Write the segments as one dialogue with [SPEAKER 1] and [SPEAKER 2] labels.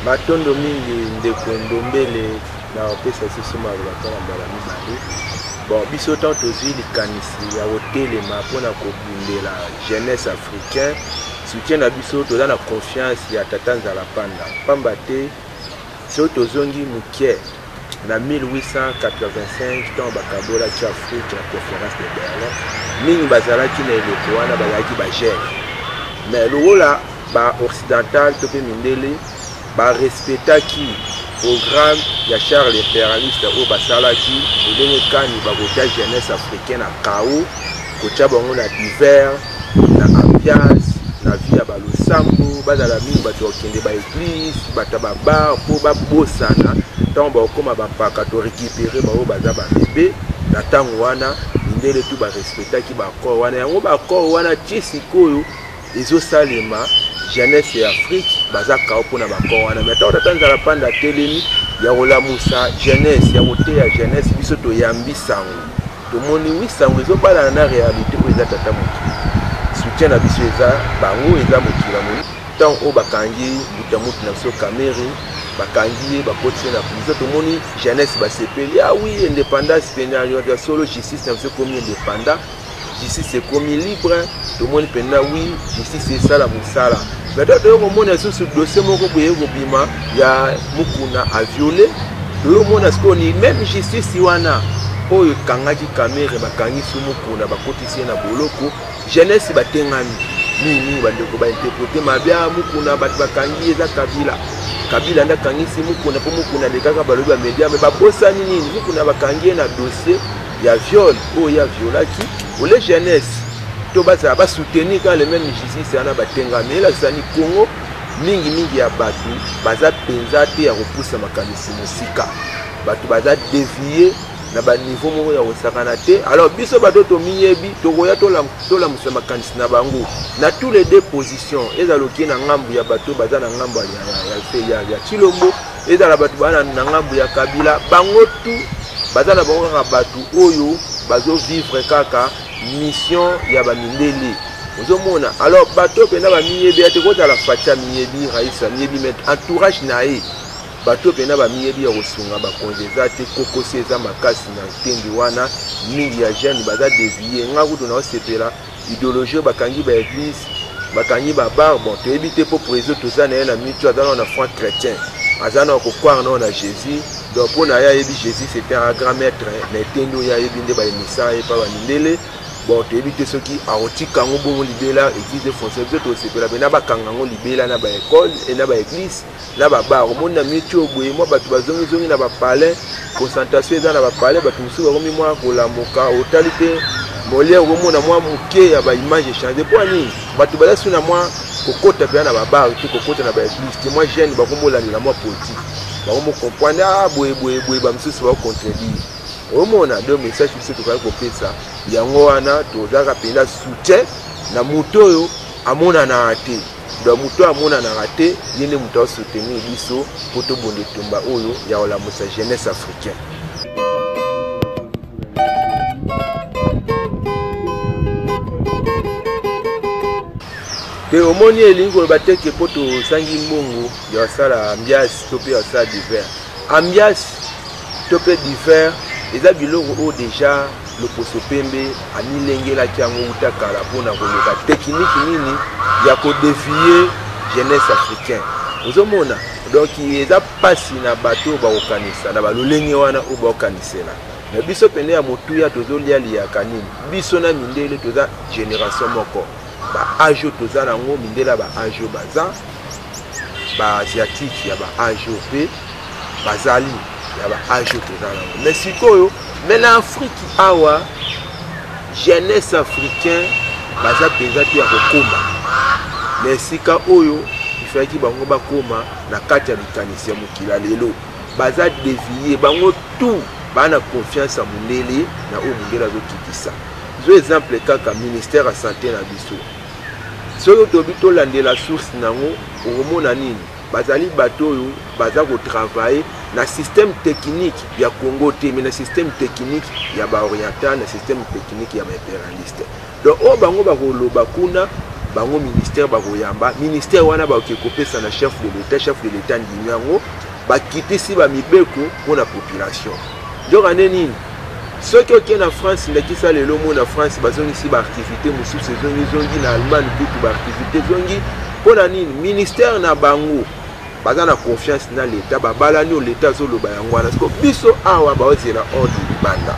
[SPEAKER 1] matondo mingi ndeko ndombele na kopesa susu maloba mpo na mbala mibale bon biso ntango tozwi likanisi ya kotelema mpo na kobundela jeunesse africain soutien na biso toza na confiance ya tata nzala panda mpamba te soki tozongi moke Na 1885, ntango bakabolaki Afrika na Conference de Berlin, mingi bazalaki na eleko wana bazalaki ba Jeunes. Mais lokola ba Occidentales to mpe mindele ba respectaki programme ya Charles l'imperialiste oyo basalaki, lolenge kani bakotia jeunesse africaine na chaos, kotia bango na divers na ambiance na vie ya balosambo bazala mingi bato bakende baeglise bata babar mpo babosana ntango bakokoma bampaka to récupere baoyo baza babebe na ntango wana mindele tu barespectaki baaccord wana yango baaccord wana tie sikoyo ezosalema jeunesse ya afrique baza kao mpo na baaccord wana mai ntango tata nzala mpanda atelemi ya kolamusa jeunesse ya koteya jeunesse biso toyambi sango Tomoni oui sango ezo balana na realite oyo eza tata mokili. Soutien na biso eza bango eza mokili ya moni. Tant oyo bakangi mbuta mutu na biso Kamere bakangi ye bakotisi ye na prison tomoni jeunesse basepeli ah oui independance pena ya solo justice na biso ekomi independant justice ekomi libre tomoni pena oui justice esala mosala Mais donc toyei komona lisusu dossier moko boye kobima ya mukuna a viole toyei komona sikoyo ni meme justice wana oyo ekangaki kamere bakangisi mukuna bakotisi ye na boloko jeunesse batengami mingimingi bandeko bainterprete mabe a ah, mukuna bato bakangi eza kabila kabila nde akangisi mukuna mpo mukuna alekaka balobi bamedia me babosani nini mukuna bakangi ye na dossier ya viol oyo ya violaki ole jeunesse to bazala ba soutenir kaka le même justice wana batenga mais elakisani congo mingi mingi ya bato baza mpenza te ya kopusa makanisi mosika bato baza devie na baniveau moko ya kosakana te alors biso bato tomiyebi tokoya tolamusa makanisi na bango na tous les deux position ezala okie na ngambo ya bato baza na ngambo ya, ya, ya, ya, ya, ya chilombo ezala bato baa na ngambo ya kabila bango tu baza na bango kaka bato oyo bazovivre kaka mission ya bamindele ozomona alors bato mpenza bamiyebi ya te kozala fatia miyebi raisa miyebi me entourage na ye bato mpenza bamiyebi ya kosunga bakonzi eza te kokosi eza makasi na ntembi wana mingi ya jeune baza devie nga kutu naosepela Ideologie oyo bakangi ba eglise, bakangi ba bar, bon toyebi te mpo prezo toza na ye na mitu aza nao na franc chrétien, aza nao kokware nao na Jésus, donc mpo na ye ayebi Jésus c'est un grand maître, mais te nde oyo ayebi nde balemisa ye mpa bamindele bon toyebi te soki akotika yango bongo libela eglise efonse biso tosepela mpena bakanga yango libela na baekole e na baeglise na ba bar omoni na mieux tio boye mwa bato bazongi zongi na ba palais concentration eza na ba palais bato mosusu bakomi mwa kolamuka otali mpe moliere okomona mwa moke ya ba image echange mpo nini bato baza su na mwa kokota mpenza na ba bar te kokota na ba eglise te mwa jeune bakomolandela mwa politique bakomocomprendre a ah, boye boye boye bamosusu bakocontredire omona donc message biso tokali kopesa yango wana tozalaka mpenza soutien na moto oyo amonanaka te donc moto oyo amonanaka te ye nde moto aosoutenir biso mpo tobonda etumba oyo ya kolamusa jeunesse africain te omoni elingi koloba te ke mpo tozangi mbongo ya kosala ambiasi to mpe ya kosala divers ambiasi to mpe divin eza biloko oyo deja loposo pembe amilengelaki yango uta kala mpo na koluka tekiniki nini ya kodevie jeunesse africain ozomona donc eza mpasi na bato oyo bakokanisa na balolenge wana oyo bakokanisela na biso pene ya motuya tozolia liyaka nini biso na mindele toza generation moko baage oyo toza na yango mindele ya baage oyo baza baasiatique ya baage oyo mpe bazali na ba age oyo toza nango mais sikoyo mais na afriki awa jeunesse africain baza mpenza te ya kokoma na esika oyo ifalaki bango bakoma na kati ya likanisi ya mokili ya lelo baza devie bango tout baa na confiance ya mondele na oyo mondele azokitisa zo exemple kaka ministère ya sante na biso soki tobi tolandela source na yango okomona nini Bazali bato oyo baza ko travailler na système technique ya Congo te mais na système technique ya ba oriental na système technique ya ba impérialiste. Donc oyo bango bakoloba kuna bango ministère bakoyamba ministère wana bakoki kopesa na chef de l'État chef de l'État ndimi yango bakitisi bamibeko mpo na population nzoka nde nini soki oke na france ndakisa lelo moi na france bazongisi baaktivité mosusu ezongi zongi na allemagne kutu baaktivité ezongi mpo na nini ministère na bango baza na confiance na leta babalani oyo leta azoloba yango wana siko biso awa baozela ordre libanda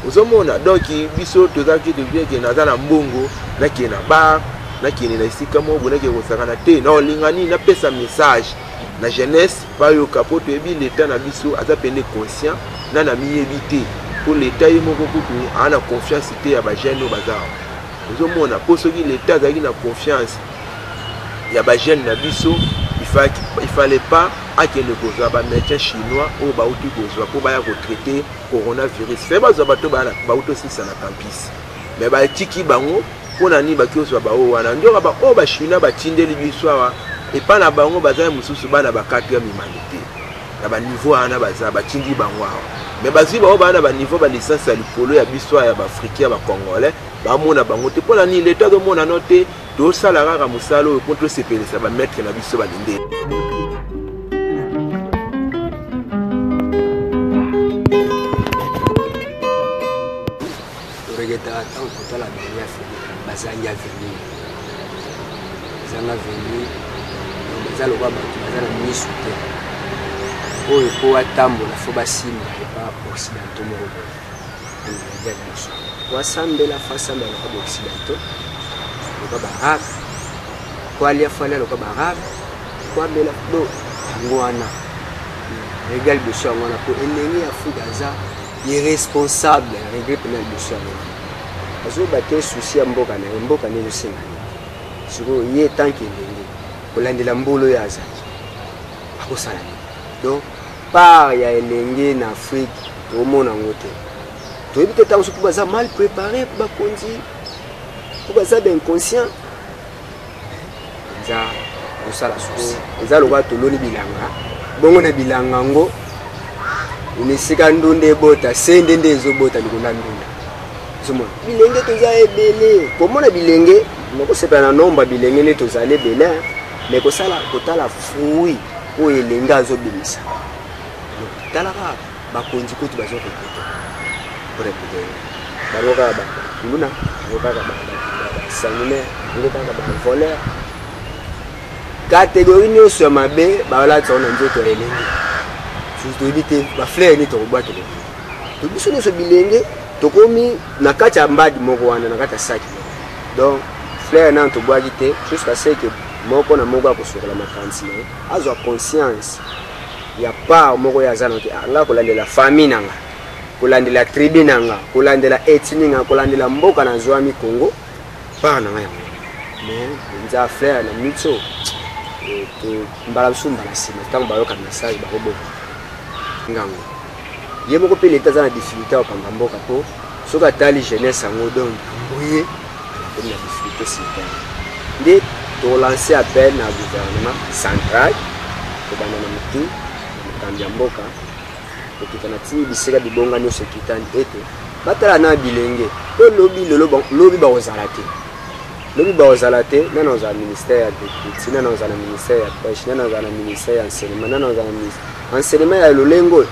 [SPEAKER 1] ozomona donk biso tozalaki tobieke naza na mbongo nake na bar nakende na esika moko bonake kosakana te na olingani napesa message na jeunesse Bayoka po toyebi l'etat na biso aza pende conscient nani amiyebi te po l'etat ye moko kutu aa na confiance te ya ba jeune oyo baza awa ozomona po soki l'etat azalaki na confiance ya ba jeune na biso il fallait pas akende kozwa ba médecin chinois oyo bauti kozwa po baya kotraite coronavirus fe bazwa bato bauti osilisa na campus me batiki bango Mpo na nini baki ozwa baoyo wana? Nzoka baoyo Bachinois batindeli biso awa, epai na bango bazali mosusu bana ba quatrième humanité na baniveau wana baza batindi bango awa me bazwi baoyo baa na baniveau balisansi ya likolo ya biso ya baafricain ya bacongolais bamona bango te mpo na nini leta azomona no te tosala kaka mosala oyo mpo tosepelisa bamaitre na biso balindeli
[SPEAKER 2] Regretaka ntango kotala bani ya feli bazangi avenir zanga avenir baza lokola bato baza na miso te oyo mpo atambola fo basimba epa occidentaux moko boye ameridia biso po asambela fo asambela lokola baoccidentaux lokola baarabe po alia fo alia lokola baarabe po abela do yango wana regal biso yango wana mpo elenge ya afrika aza irresponsable regret pena liboso ya mama azoyeba te susi ya mboka na ye mboka nde ezosenga nini sikoyo ye tanke elenge kolandela mbolo ye azali akosala nini donc part ya elenge na afrique tokomona yango te toyebi te ntango soki baza mal prépare bakonzi mpo baza bainconscient eza kosala susi eza lokola toloni bilanga bongo na bilanga yango na esika ndunda ebota se nde nde ezobota likolo ya ndunda ozomona bilenge toza ebele komona bilenge nakosepela na nomba bilenge nde tozali ebele me kosala kotala fruit oyo elenge azobimisa talaka bakonzi kutu bazo regrete koregrete bango kaka bakuluna bango kaka basanguinaire bango kaka bavoleur kategori nyonso ya mabe balatisa ngo na nzoto ya elenge toyebi te bafleur nini tokobwakela to biso nyonso bilenge tokomi na kati ya mbadi moko wana na kati ya saki donc fleur nano tobwaki te jusqu'à ce que moko na moko akosokola makanisi na ye azwa conscience ya part moko ye aza na te ah, nga kolandela famille na nga kolandela tribu na nga kolandela etini nga kolandela mboka na zwami congo part na nga yango mais mpenza flair na miso eh, mbala mosusu mbala nsima ntango bayoka message bakoboma ngango ye moko mpe leta aza na difficulté ya kopamba mboka mpo soki atali jeunesse yango donc mbuye akomi na difficulté sitane nde tolanse appel na gouvernement central kobanda na motu na mokambi ya mboka kokita na tii bisika bibonga nyonso ekitani ete batala na bilenge mpo lobi lelo lobi bakozala te lobi bakozala te nani akozala ministère ya agriculture nani akozala na ministère ya pêche nani akozala na ministère ya enseignement nani akozala na enseignement ya lolenge oyo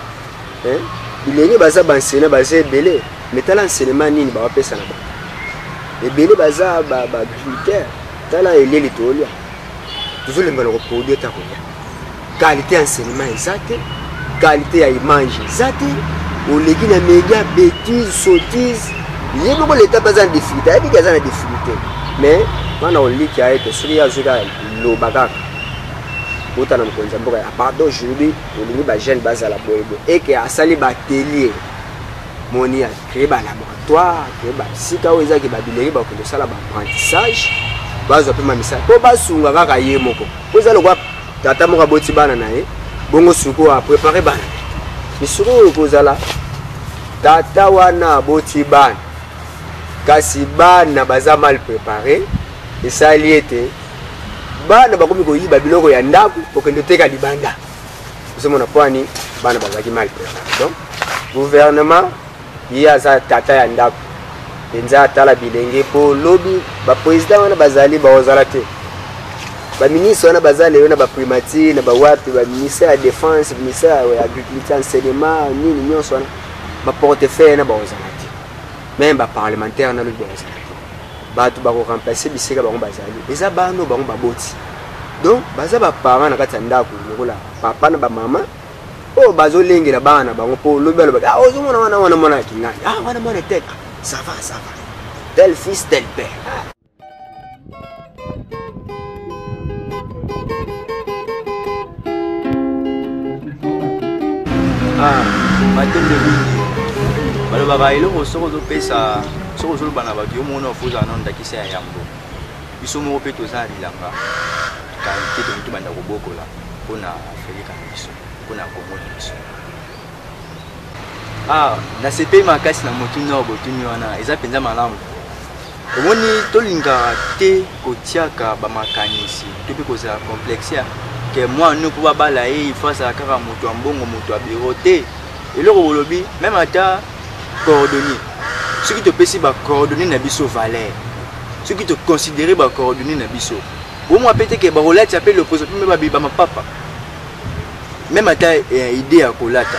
[SPEAKER 2] bilenge baza baenseignant baza ebele me tala enseignement nini bawapesa na bango ebele baza baagriculteur tala eleli toolya tozolemba na koproduit ata koya qualité ya enseignement eza te qualité ya image eza te oleki na média bétise sottise ye moko leta mpe aza na difficulté ayebi ke aza na difficulté mais bana oliki ya ete soki azoki kaka loba kaka bota na mokonzi ya mboka ya pardon aujourd'hui olingi bajeune bazala boyeboye eke asali batelier moni ya kreba na Toi que ba sika oyo ezaki ba bilenge ba ko sala ba apprentissage bazo pe mamisa po basunga kaka ye moko po eza lokwa tata moko aboti bana na ye bongo suko a prepare bana misuko oyo kozala tata wana aboti bana kasi bana baza mal prepare esali ete bana bakomi koyiba biloko ya ndako kokende oteka libanda ozomona pwani bana bazalaki mal prepare donc gouvernement ye aza tata ya ndako mpenza atala bilenge mpo lobi bapresident wana bazali baozala te baministre wana baza lelo na baprimature na bawapi baministère ya défense ministère ya agriculture enseignement nini nyonso wana baportefeuille na baozala te meme baparlementaire na lobi baozala te bato bakoremplace bisika bango bazali eza bano bango baboti donc baza baparent na kati ya ndako lokola papa na bamama oyo bazolengela bana na bango mpo lobi alobaki ah, ozomona wana wana mwana ya kingani ah, wana mwana etete sava ah, sava tel fils tel père ah.
[SPEAKER 3] Ah, matembe balobaka eloko soki ozopesa soki ozoloba na bato yo mona ofozala nano ndakisa ya yambo biso moko mpe toza na bilanga kanke tokoki tobanda kobokola mpona Feleka na biso mpo na Congo na biso. Ah, nasepeli makasi na motuni oyo botuni wana, eza mpenza malamu. Omoni, tolingaka te kotiaka bamakanisi to mpe kozala complexe ya ke mwana nini mpo babala ye ifo azala kaka moto ya mbongo, moto ya biro te. Eloko bolobi, meme ata coordonnier, soki topesi bacoordonnier na biso valeur, soki toconsidere bacoordonnier na biso Omo apete ke bakolati ape loposo mpe babiba mapapa. Meme ata eh, idee ya kolata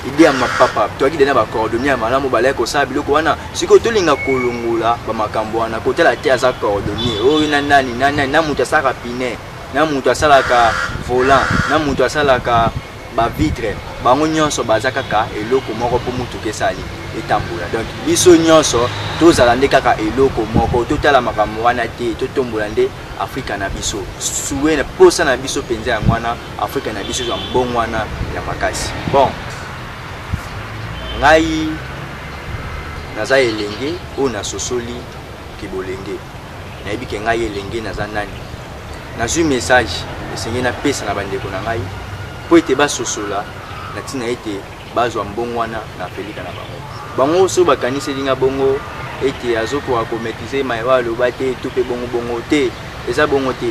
[SPEAKER 3] idee ya mapapa toyaki dena bacordonnier ya malamu balaki kosala biloko wana sikoyo tolinga kolongola bamakambo wana kotala te aza cordonnier oyo na nani na nani na moto asalaka pine na moto asalaka volant na moto asalaka ba vitre bango nyonso baza kaka eloko moko mpo motuka esali etambola donc biso nyonso tozala nde kaka eloko moko totala makambo wana te totombola nde afrika na biso sue mposa na biso mpenza yango wana afrika na biso ezwa mbongo wana ya makasi bon ngai naza elenge oyo nasosoli kibolenge nayebi ke ngai elenge naza nani nazwi message esengeli napesa na bandeko na ngai mpo ete basosola na ntina ete bazwa mbongo wana na pelika na bango bango so bakaniseli nga bongo ete azokoka komaitrise mayewa aloba te to mpe bongo bongo te eza bongo te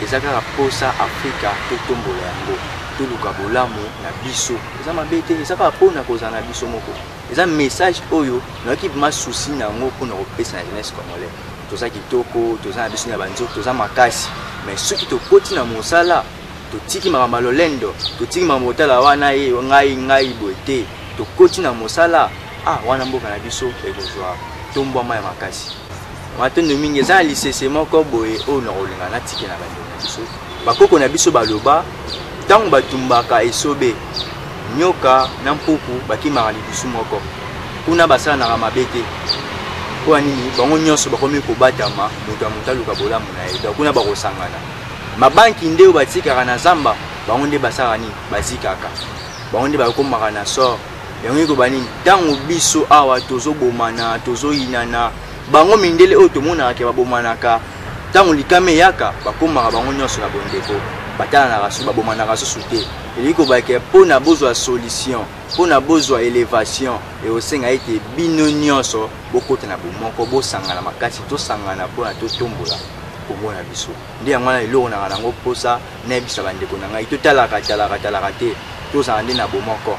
[SPEAKER 3] eza kaka mposa afrika totombola yango toluka bolamu na biso eza mabe te eza kaka mpona kozala na biso moko eza message oyo nayoki ma souci na yango mpona kopesa na jeunesse congolais toza kitoko toza na biso na banzoki toza makasi mais soki tokoti na mosala totiki makambo ya lolendo totiki makambo otala wana ye ngai ngai boye te tokoti na mosala ah wana mboka na biso ekozwa tombwama ya makasi matondo mingi eza na lisese moko boye oyo nakolinga natike na bandeko na biso bakoko na biso baloba ntango batumbaka esobe nyoka na mpuku bakimaka lidusu moko kuna basalanaka mabe te mpo ya nini bango nyonso bakomi kobatama moto ya moto aluka bolamu na ye donc kuna bakosangana mabanki nde oyo batikaka na zamba bango nde basalaka nini bazikaka bango nde bakomaka na sort yango ekoba nini ntango biso awa tozobomana tozoyinana Bango mindele oyo tomonaka ke babomanaka ntango likama eyaka, bakomaka bango nyonso na bondeko, batalanaka susu, babomanaka susu te. Elingi koloba ke mpo na bozwa solution, mpo na bozwa elevation, ekosenga ete bino nyonso bokota na bomoko, bosangana makasi, tosangana mpo na totombola Congo na biso. Nde yango wana eloko nanga nango mposa nayebisa bandeko na ngai, totalaka talaka talaka te, tozala nde na bomoko.